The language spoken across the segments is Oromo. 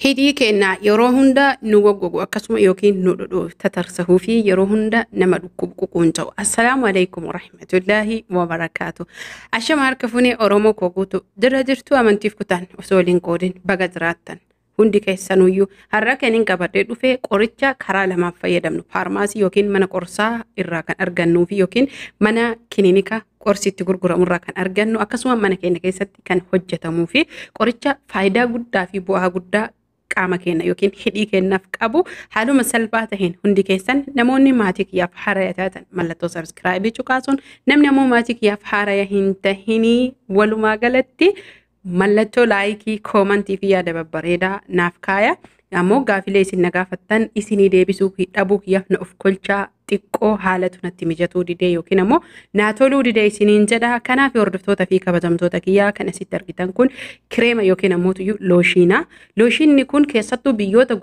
Hidhii keenya yeroo hunda nu goggogu akkasuma yookiin nu dhudhuuf tatarsahuu fi yeroo hunda nama dhukkubu ququunca'u. Assalaamu alaikum warahmatullaahi wabarakaatu. Ashama harka funee Oromoo koo guutu dirra jirtuu amantiif kutaan osoo waliin qoodin baga jiraattan. Hundi keessanuyyuu har'a kan hin qabadhee dhufee qoricha karaa lamaan fayyadamnu faarmaasii yookiin mana qorsaa irraa kan argannuu fi yookiin mana kilinika qorsi itti gurguramu irraa kan argannu akkasuma mana keenya keessatti kan hojjetamuu fi qoricha faayidaa guddaa fi bu'aa guddaa qaama keenya yookiin hidhii keenyaaf qabu haaluma salphaa taheen hundi keessan namoonni maatii kiyyaaf haaraya taatan mallattoo sabskraayibii cuqaasuun namni ammoo maatii kiyyaaf haaraya hin tahinii walumaa galatti mallattoo laayikii koomantii fi yaada babbareedaa naaf kaaya ammoo gaafilee isin na gaafattan isinii deebisuu dhabuu kiyyaaf na of kolchaa xiqqoo haalatu natti mijatuu didee yookiin ammoo naa toluu didee isiniin jedha. Kanaaf hordoftoota fi kabajamtoota kiyyaa kan asitti argitan kun kireema yookiin ammoo tuyyu looshiina. Looshiinni kun keessattuu biyyoota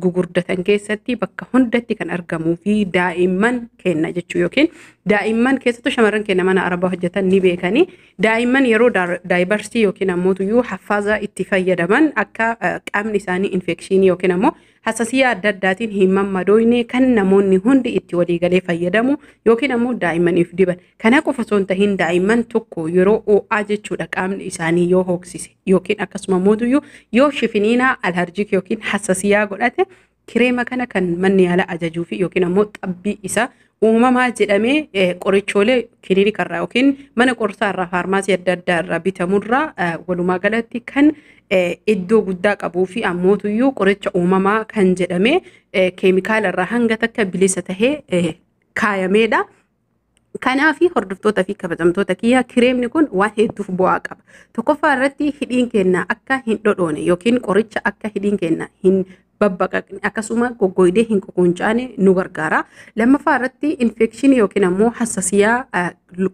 gugurdatan keessatti bakka hundatti kan argamuu fi daa'imman kenna jechuu yookiin daa'imman keessattuu shamarran kenna mana arabaa hojjetan ni beekanii daa'imman yeroo daayibarsii yookiin ammoo tuyyu haffaaza itti fayyadaman akka qaamni isaanii infekshiinii yookiin ammoo Hassasiyaa adda addaatiin hin mammadooyne kan namoonni hundi itti waliigalee fayyadamu yookiin ammoo daa'immaniif diban. Kana qofa osoo hin tahin daa'imman tokko yeroo oo'aa jechuudha qaamni isaanii yoo hooksise yookiin akkasuma mootuyyuu yoo shifiniinaa alharjik yookiin hassasiyaa godhate kireema kana kan manni yaalaa ajajuu fi yookiin ammoo xabbii isaa uumamaa jedhamee eh, qorichoolee kilinika irraa yookiin mana qorsaa irraa faarmaasii adda addaa irraa bitamurraa eh, walumaa galatti kan eh, iddoo guddaa qabuu fi ammootuyyuu qoricha uumamaa kan jedhamee eh, keemikaala irraa hanga takka bilisa tahee eh, kaayameedha. Kanaaf hordoftoota fi kabajamtoota kiyyaa kireemni kun waan hedduuf bu'aa qaba. Tokkoffaa irratti hidhiin keenya akka hin dhodhoone yookiin qoricha akka hidhiin keenya hin babbaqaqne akkasuma goggoydee hin ququncaane nu gargaara. Lammaffaa irratti infekshinii yookiin ammoo hassasiyaa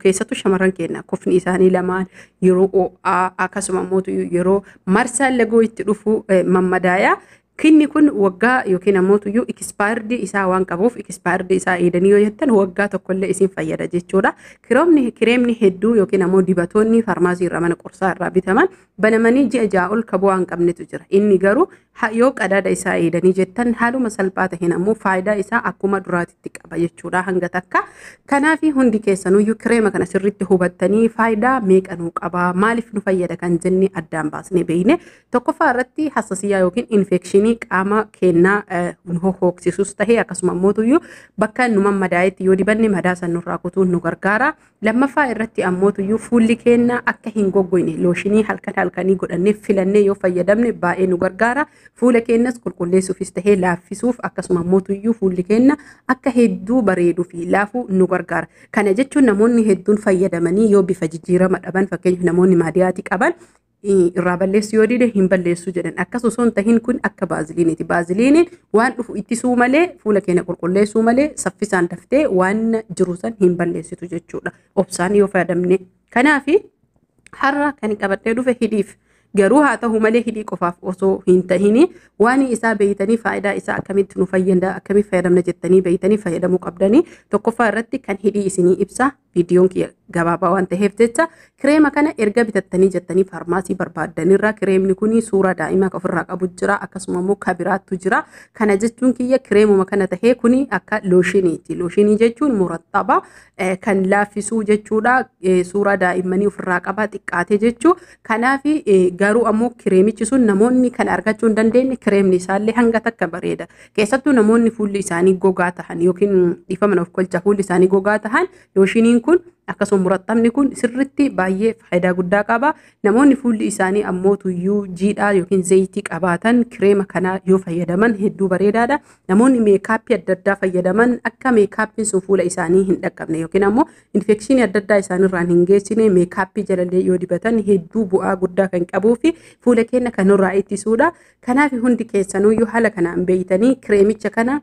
keessattuu shamarran keenya kofni isaanii lamaan yeroo oo'aa akkasuma ammoo yeroo marsaan lagoo itti dhufu mammadaaya. Kinni kun waggaa yookiin ammoo tuyyuu ikispaayirdi isaa waan qabuuf ikispaayirdi isaa eedanii yoo jettan waggaa tokkollee isin fayyada jechuudha. Kireemni hedduu yookiin ammoo dibatoonni faarmaasii irraa mana qorsaa irraa bitaman Banamanii ji'a ja'a ol ka bu'aa hin qabnetu jira. Inni garuu ha- yoo qadaada isaa eeydanii jettan haaluma salphaa taheen ammoo faayidaa isaa akkuma duraatitti qaba jechuudha hanga takka. Kanaafi hundi keessanuyyuu kireema kana sirriitti hubattanii faayidaa meeqa nuu qaba maaliif nu fayyada kan jenne addaan baasnee beeyne. Tokkoffaa irratti hassasiyyaa yookiin infekshinii qaama keennaa eh, nu hohooksisus tahee akkasuma ammootuyyuu bakka nu mammadaa'etti yoo dibanne madaa san nurraa kutuun nu gargaara. Lammaffaa irratti ammoo tuyyuu fuulli keenya akka hin goggoyne looshinii halkan halkanii godhannee filannee yoo fayyadamne baay'ee nu gargaara. Fuula keenyas qulqulleessuufis tahee laaffisuuf akkasuma ammoo tuyyuu fuulli keenya akka hedduu bareeduu fi laafu nu gargaara. Kana jechuun namoonni hedduun fayyadamanii yoo bifa jijjiirama dhaban fakkeenyaaf namoonni maadiyaati qaban irraa balleessu yoo dide hin balleessu jedhan akkas osoo hin tahin kun akka baaziliiniiti baaziliiniin waan dhufu ittisuu malee fuula keenya qulqulleessuu malee saffisaan daftee waan jiru san hin balleessitu jechuudha obsaan yoo fayyadamne kanaaf har'a kan qabadhee dhufe hidhiif garuu haa ta'u malee hidhii qofaaf osoo hin tahin waan isaa beeytanii faayidaa isaa akkamitti nu fayyada akkamitti fayyadamna jettanii beeytanii fayyadamuu qabdanii tokkoffaa irratti kan hidhii isinii ibsa viidiyoon kiyya gabaabaa waan ta'eef jecha kireema kana erga bitattanii jettanii faarmaasii barbaaddanirraa kireemni kun suuraa daa'imaa kan ofirraa qabu jira akkasuma immoo kabiraattu jira kana jechuun kiyya kireemuma kana ta'ee kun akka looshiniiti looshinii jechuun murattaba kan laaffisuu jechuudha suuraa daa'immanii ofirraa qaba xiqqaate jechuu kanaaf garuu ammoo kireemichi sun namoonni kan argachuu hin dandeenye kireemni isaallee hanga takka bareeda Keessattuu namoonni fuulli isaanii gogaa tahan yookiin dhiifama nuuf kolcha fuulli isaanii gogaa tahan looshiniin kun akkasuma murattamni kun sirritti baay'ee faayidaa guddaa qaba. Namoonni fuulli isaanii ammoo tuyyuu jiidhaa yookiin zayitii qabaatan kireema kanaa yoo fayyadaman hedduu bareedaadha. Namoonni meekaappii adda addaa fayyadaman akka meekaappiin sun fuula isaanii hin dhaqqabne yookiin ammoo infekshinii adda addaa isaanirraan hin geessine meekaappii jalallee yoo dibatan hedduu bu'aa guddaa kan qabuu fi fuula keenya kan nurraa ittisuudha. Kanaaf hundi keessanuyyuu haala kanaan beeytanii kireemicha kana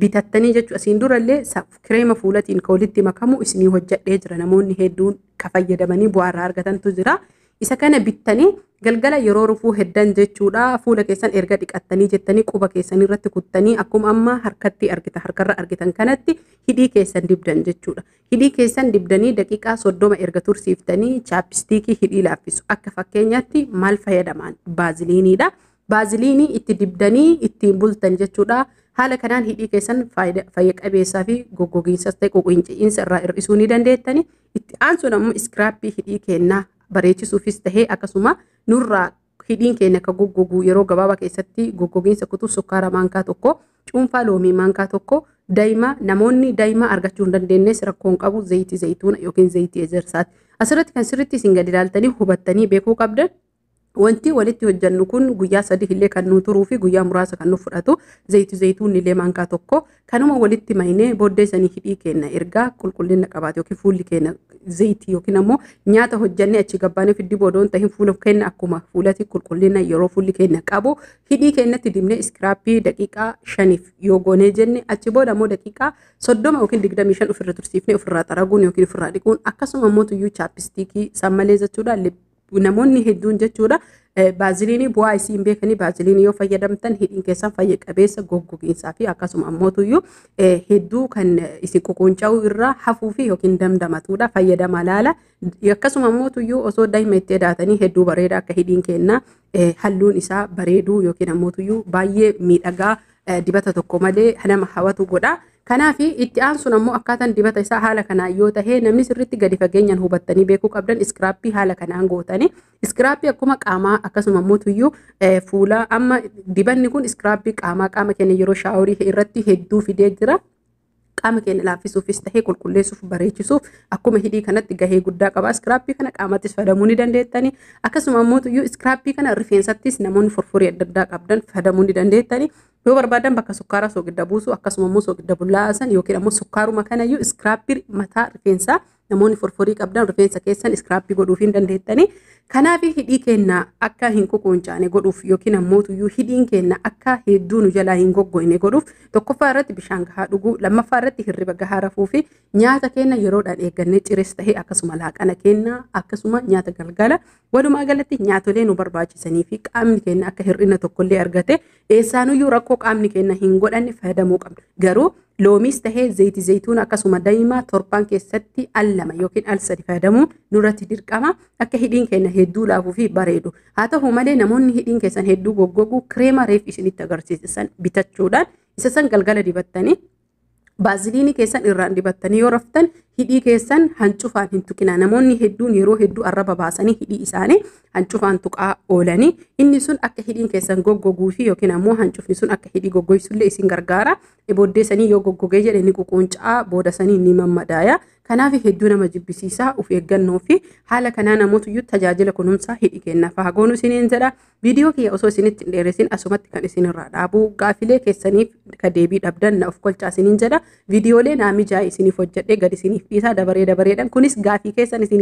bitattanii jechuun asiin durallee kireema fuulatiin ka walitti makamu isinii hojjadhee jira namoonni hedduun ka fayyadamanii bu'aa irraa argatantu jira. Isa kana bittanii galgala yeroo rufuu heddan jechuudha fuula keessan erga dhiqattanii jettanii quba keessan irratti kuttanii akkuma amma harkatti argitan harkarra argitan kanatti hidhii keessan dibdan jechuudha. Hidhii keessan dibdanii daqiiqaa 30 erga tursiiftanii chaapistiikii hidhii laaffisu. Akka fakkeenyaatti maal fayyadamaan? Baaziliiniidha. Baaziliinii itti dibdanii ittiin bultan jechuudha. Haala kanaan hidhii keessan fayya qabeessaa fi goggogiinsas ta'e quqinci'iinsa irraa hir'isuu ni dandeettani. Itti aansuun ammoo iskiraappii hidhii kennaa bareechisuufis ta'ee akkasuma nurraa Hidhiin keenya akka goggogu yeroo gabaabaa keessatti goggogiinsa kutuuf sukkaara maankaa tokko, cuunfaa loomii maankaa tokko, dayma namoonni dayma argachuu hin dandeenyes rakkoon qabu zayitii zayituuna yookiin zayitii ejersaati. Asirratti kan sirriitti isin gadi ilaaltanii hubattanii beekuu qabdan wanti walitti hojjannu kun guyyaa sadii illee kan nuu turuu fi guyyaa muraasa kan nuuf fudhatu zayitii zayituunni illee maankaa tokko Kanuma walitti maynee booddee sanii hidhii keenna ergaa qulqullina qabaate yookiin fuulli keenna zayitii yookiin ammoo nyaata hojjannee achi gabbaanee fiddi boodoon tahin fuula keenna akkuma fuulati qulqullina yeroo fuulli keenna qabu hidhii keennatti dibnee iskiraappii daqiiqaa shaniif yoo goonee jenne achi booda ammoo daqiiqaa soddoma yookiin digdamii shan ofirra tursiifnee ofirraa xaraguun yookiin ofirraa dhiquun akkasuma ammoo tuyyuu chaapistiikii san malee jechuudha namoonni hedduun jechuudha baaziliinii bu'aa isii hin beekanii baaziliinii yoo fayyadamtan hidhiin keessan fayya qabeessa goggogiinsaa fi akkasuma ammootuyyuu hedduu kan isin ququunca'uu irraa hafuu fi yookiin damdamatuudha fayyadama laala akkasuma ammootuyyuu osoo daa'ima itti edaatanii hedduu bareeda akka hidhiin keenna halluun isaa bareeduu yookiin ammootuyyuu baay'ee miidhagaa dibata tokko malee nama hawatu godha. Kanaaf itti aansuun ammoo akkaataan dibata isaa haala kanaan yoo ta'e namni sirriitti gadi fageenyaan hubattanii beekuu qabdan iskiraappii haala kanaan gootanii iskiraappii akkuma qaamaa akkasuma immoo tuyyuu fuulaa amma dibanni kun iskiraappii qaamaa qaama keenya yeroo shaaworii irratti hedduu fidee jira. qaama keenya laaffisuufis tahee qulqulleessuuf bareechisuuf akkuma hidhii kanatti gahee guddaa qaba. Iskiraappii kana qaamattis fayyadamuu ni dandeettani. Akkasuma immoo iyyuu iskiraappii kana rifeensattis namoonni furfurii adda addaa qabdan fayyadamuu ni dandeettani. Yoo barbaadan bakka sukkaaraa soogidda buusu akkasuma immoo soogidda bullaa'aa san yookiin ammoo sukkaaruma kana iyyuu iskiraappii mataa rifeensaa Namoonni forforii qabdan rifeensa keessan iskiraappii godhuuf hin dandeettanii. Kanaaf hidhii keenna akka hin kukuuncaane godhuuf yookiin ammoo tuyyuu hidhiin keenna akka hedduu nu jalaa hin goggoyne godhuuf tokkoffaa irratti bishaan gahaa dhuguu, lammaffaa irratti hirriba gahaa rafuu fi nyaata keenna yeroodhaan eeggannee cires ta'e akkasuma laaqana keenna akkasuma nyaata galgala walumaa galatti nyaatolee nu barbaachisanii fi qaamni keenna akka hir'ina tokkollee argate Eessaanuyyuu rakkoo qaamni keenya hin godhanne fayyadamuu qabna. Garuu loomiis tahee zayitii zayituuna akkasuma daa'imaa torbaan keessatti al lama yookiin al sadi fayyadamuun nurratti dirqama akka hidhiin keenya hedduu laafuu fi bareedu. Haa ta'u malee namoonni hidhiin keessan hedduu goggogu kireema reef isinitti agarsiisan bitachuudhaan isa san galgala dibattanii Baaziliinii keessan irraan dibattanii yoo raftan hidhii keessan hancufaan hin tuqinaa. Namoonni hedduun yeroo hedduu arraba baasanii hidhii isaanii hancufaan tuqaa oolanii inni sun akka hidhiin keessan goggoguu fi yookiin ammoo hancufni sun akka hidhii goggoysullee isin gargaara. Booddee sanii yoo goggogee jedhe ni ququuncaa booda sanii ni mammadaaya. Kanaaf hedduu nama jibbisiisaa of eeggannoo fi haala kanaa namootyyuu tajaajila kunuunsaa hidhi kennaaf haa goonu isiniin jedha. Viidiyoo kiyya osoo isinitti hin dheeressin asumatti kan isinirraa dhaabu gaaffilee keessaniif ka deebii dhabdan na of kolchaa isiniin jedha. Viidiyoolee naa mijaa'e isiniif hojjedhee gad isiniif dhiisaa dabaree dabareedhaan kunis gaaffii keessan isinii